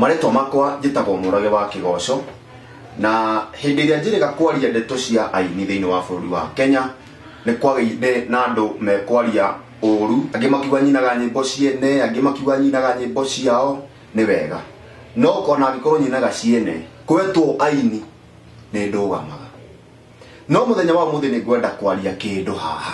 Marĩtwa makwa njĩtagwo Mũrage wa Kĩgoco, na hĩndĩ ĩrĩa njĩrĩga kwaria ndeto cia aini thĩinĩ wa bũrũri wa Kenya, nĩ kwagĩire na andũ mekwaria ũũru, angĩ makiuga nyinaga nyĩmbo ciene, angĩ makiuga nyinaga nyĩmbo ciao, nĩ wega. No ona angĩkorwo nyinaga ciene, kwetwo aini nĩ ndũgamaga. No mũthenya wa ũmũthĩ nĩ ngwenda kwaria kĩndũ haha.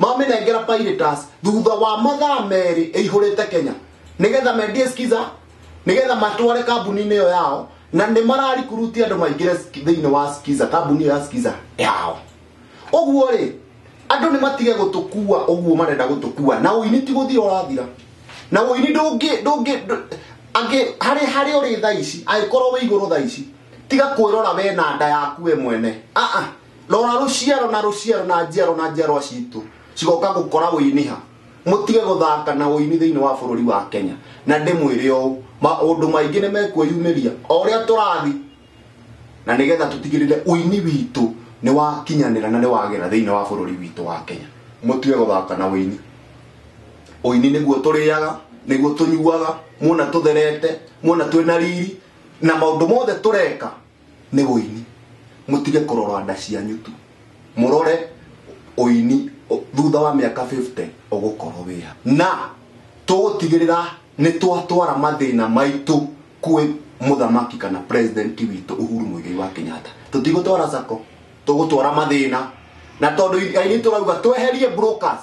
mamĩnengera piratas thutha wa mathaa merĩ ĩihũrĩte kenya nĩgetha mendie skiza nĩgetha matware kambuni-inĩ ĩyo yao na nĩ mararikuruti andũ maingĩre sk- thĩinĩ wa skiza kambuni ya skiza yao ũguo rĩ andũ nĩ matige gũtũkua ũguo marenda gũtũkua na ũini ti gũthira ũrathira na ũini ndũngĩ ndũngĩ ndũ- angĩ harĩ harĩ ũrĩ thaa ici angĩkorwo wĩ igũrũ thaa ici tiga kwĩrora we na nda yaku we mwene aa rora rũciaro na rũciaro na njiaro na njiarwa citũ cigoka gũkora wĩiniha mũtige gũthaka na ũini thĩinĩ wa bũrũri wa kenya na ndĩmwĩre ũũ maũndũ maingĩ nĩ mekwĩyumĩria o ũrĩa tũrathi na nĩgetha tũtigĩrĩre ũini witũ nĩ wakinyanĩra na nĩ wagĩra thĩinĩ wa bũrũri witũ wa kenya mũtige gũthaka na ũini ũini nĩguo tũrĩaga nĩguo tũnyuaga muona tũtherete muona twĩna riri na maũndũ mothe tũreka nĩ ũini mũtige kũrora nda cianyu tu mũrore ũini ũ- thutha wa mĩaka 50 ũgũkorwo wĩha na tũgũtigĩrĩra nĩ twatwara mathĩna maitũ kwĩ mũthamaki kana president witũ uhuru mũigai wa kenyatta tũtigũtwara sako tũgũtwara mathĩna na tondũ ainĩ tũrauga tweherie brokers